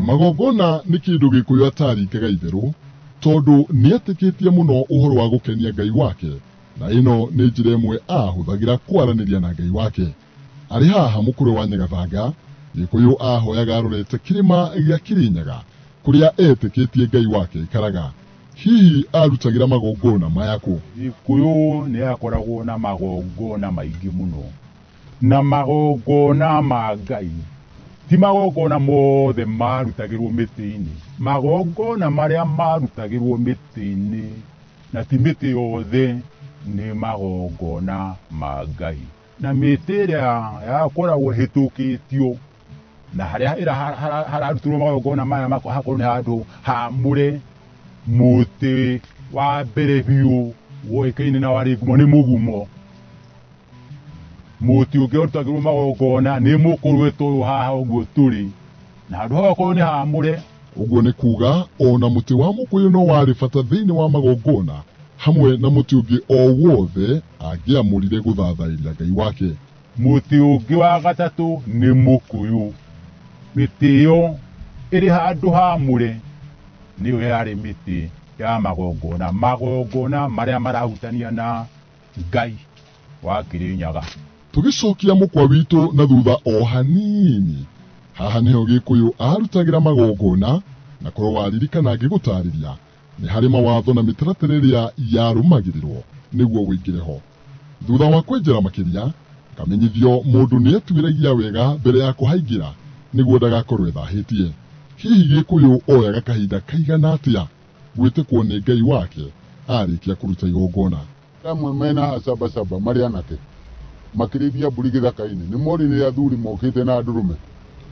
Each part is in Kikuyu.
magongona nĩ kĩndũ gĩkũyũ ataringaga itherũ tondũ nĩ atĩkĩtie mũno ũhoro wa gũkenia ngai wake na ĩno nĩ njĩra ĩmwe ahũthagĩra kwaranĩria na ngai wake arĩ haha mũkũrwe wa nyagathanga gĩkũyũ ahoyaga arorete kĩrĩma gĩa kĩrĩnyaga kũrĩa etĩkĩtie ngai wake aikaraga Hihi aarutagĩra magongona maya kũ? Gĩkũyũ nĩ yakoragwo na magongona maingĩ mũno, na magongona ma Ngai ti magongona mothe maarutagĩrwo mĩtĩ-inĩ. Magongona marĩa maarutagĩrwo mĩtĩ-inĩ, na ti mĩtĩ yothe, nĩ magongona ma Ngai. Na mĩtĩ ĩrĩa yakoragwo ĩhĩtũkĩtio... na harĩa ĩra ha- ha- hararutirwo magongona maya makwa hakorwo nĩ handũ hamũre mũtĩ wa mbere biũ woĩkaine na warĩ ngumo nĩ mũgumo mũtĩ ũngĩ ũrutagĩrwo magongona nĩ mũkũrwe ta ũyũ haha ũguo tũrĩ na handũ hau hakorwo nĩ hamũre ũguo nĩ kuuga o na mũtĩ wa mũkũyũ no warĩ bata thĩinĩ wa magongona hamwe na mũtĩ ũngĩ o wothe angĩamũrire gũthathairia ngai wake Mũtĩ ũngĩ wa gatatũ nĩ mũkũyũ. Mĩtĩ ĩyo ĩrĩ handũ haamũre nĩyo yarĩ mĩtĩ ya magongona, magongona marĩa marahutania na Ngai wa Kĩrĩnyaga. Tũgĩcokia mũkwa witũ na thutha o hanini, haha nĩho Gĩkũyũ aarutagĩra magongona, na korũo waririkana ngĩgũtaarĩria, nĩ harĩ mawatho na mĩtaratara ĩrĩa yarũmagĩrĩrwo nĩguo wĩingĩre ho thutha wa kwenjera makĩria kamenyithio mũndũ nĩ etuĩragia wega mbere ya kũhaingĩra nĩguo ndagakorwo ethahĩtie hihi gĩkũyũ oyaga kahinda kaigana atĩa gwĩtĩkwo nĩ ngai wake arĩkia kũruta igongona Amwe mena acabacaba marĩ anake makĩrĩithia mbũri gĩthaka-inĩ, nĩ morire athuri mokĩte na ndũrũme.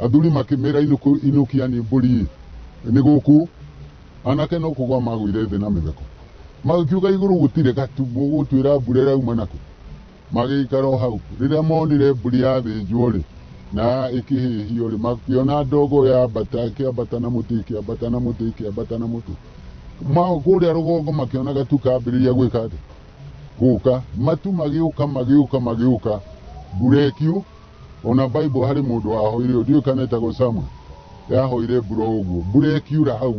Athuri makĩmera inũkũ- inũkiani mbũri nĩ gũkũ, anake no kũgwa magũire thĩ na mĩtheko. Magĩkiuga igũrũ gũtirĩ gatu, mũgũtwĩra mbura ĩrauma nakũ? Magĩikara o hau. Rĩrĩa monire mbũri yathĩnjwo-rĩ, na ĩkĩhĩhio-rĩ, makĩona ndogo yambata, ĩkĩambata na mũtĩ, ĩkĩambata na mũtĩ, ĩkĩambata na mũtĩ. mao kũrĩa rũgongo makĩona gatu kambĩrĩria gwĩka atĩ gũka matu magĩũka magĩũka magĩũka mbura ĩkiu ona bible harĩ mũndũ wahoire ndiũĩ kana etagwo samuel yahoire mbura ũguo mbura ĩkiura hau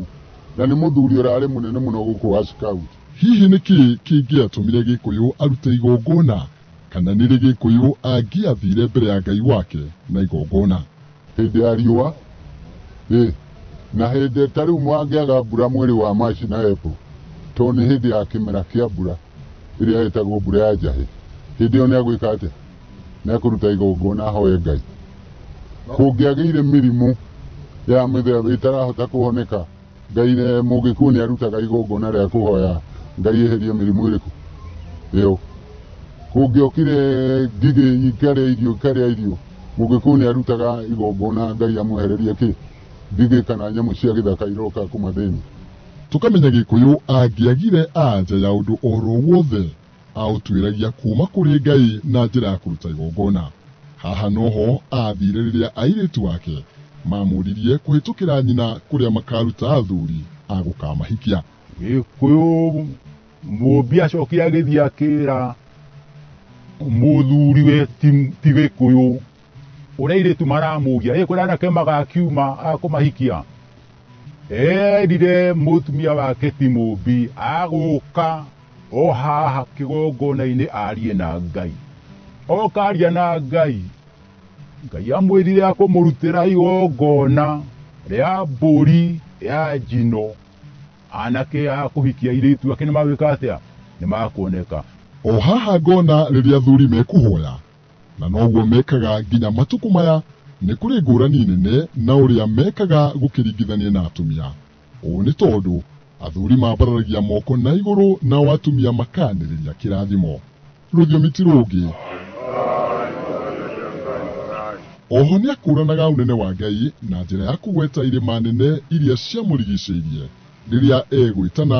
na nĩ mũthuri ũrarĩ mũnene mũno gũkũ wa scout hihi nĩ kĩ kĩngĩatũmire gĩkũyũ arute igongona kana nĩrĩ gĩkũyũ angĩathire mbere ya ngai wake na igongona hĩndĩ ya riũa ĩ na hĩndĩ ta rĩu mwangĩaga mbura mwĩrĩ wa maci na epo tondũ nĩ hĩndĩ ya kĩmera kĩa mbura ĩrĩa ĩtagwo mbura ya njahĩ hĩndĩ ĩyo nĩ agwĩka atĩa nĩ akũruta igongona ahoe ngai kũngĩagĩire mĩrimũ ya mĩthemba ĩtarahota kũhoneka Ngai rĩ mũngĩkuo nĩ arutaga igongona rĩa kũhoya Ngai eherie mĩrimũ ĩrĩkũ? Ĩyo. Kũngĩokire ngigĩ ikarĩa irio ikarĩa irio, mũngĩkuo nĩ arutaga igongona Ngai amwehererie kĩ? Ngigĩ kana nyamũ cia gĩthaka iroka kũmathĩni. Tũkamenya Gĩkũyũ angĩagire anja ya ũndũ oro wothe. aũtuĩragia kuuma kũrĩ Ngai na njĩra ya kũruta igongona. Haha noho aathire rĩrĩa airĩtu ake mamũririe kũhĩtũkĩra nyina kũrĩa makaruta athuri a gũkamahikia. Gĩkũyũ mũmbi acokire agĩthiĩ akĩra mũthuriwe ti Gĩkũyũ. uria iritu maramugia ri kuria anake magakiuma akumahikia erire mutumia wake timumbi aguka o haha kigongona-inĩ arie na ngai oka aria na ngai ngai amwĩrire akũmũrutĩra igongona rĩa mbũri ya njino anake a kũhikia irĩtu ake nĩ magwĩka atĩa nĩ makuoneka o haha ngona rĩrĩa athuri mekuhoya Na noguo mekaga nginya matukũ maya. Nĩ kũrĩ ngũrani nene na ũrĩa mekaga gũkĩringithania na atumia. Ũũ nĩ tondũ athuri mambararagia moko na igũrũ nao atumia makaanĩrĩria kĩrathimo. Rũthiomi ti rũngĩ. Oho nĩ akũranaga ũnene wa Ngai na njĩra ya kũgweta irĩma nene iria ciamũrigicĩirie rĩrĩa egwĩtana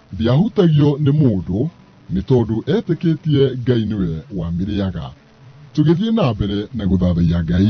Ndiahutagio nĩ mũndũ nĩ tondũ etĩkĩtie Ngai nĩwe wamĩrĩaga. Tũgĩthiĩ na mbere na gũthathaiya Ngai.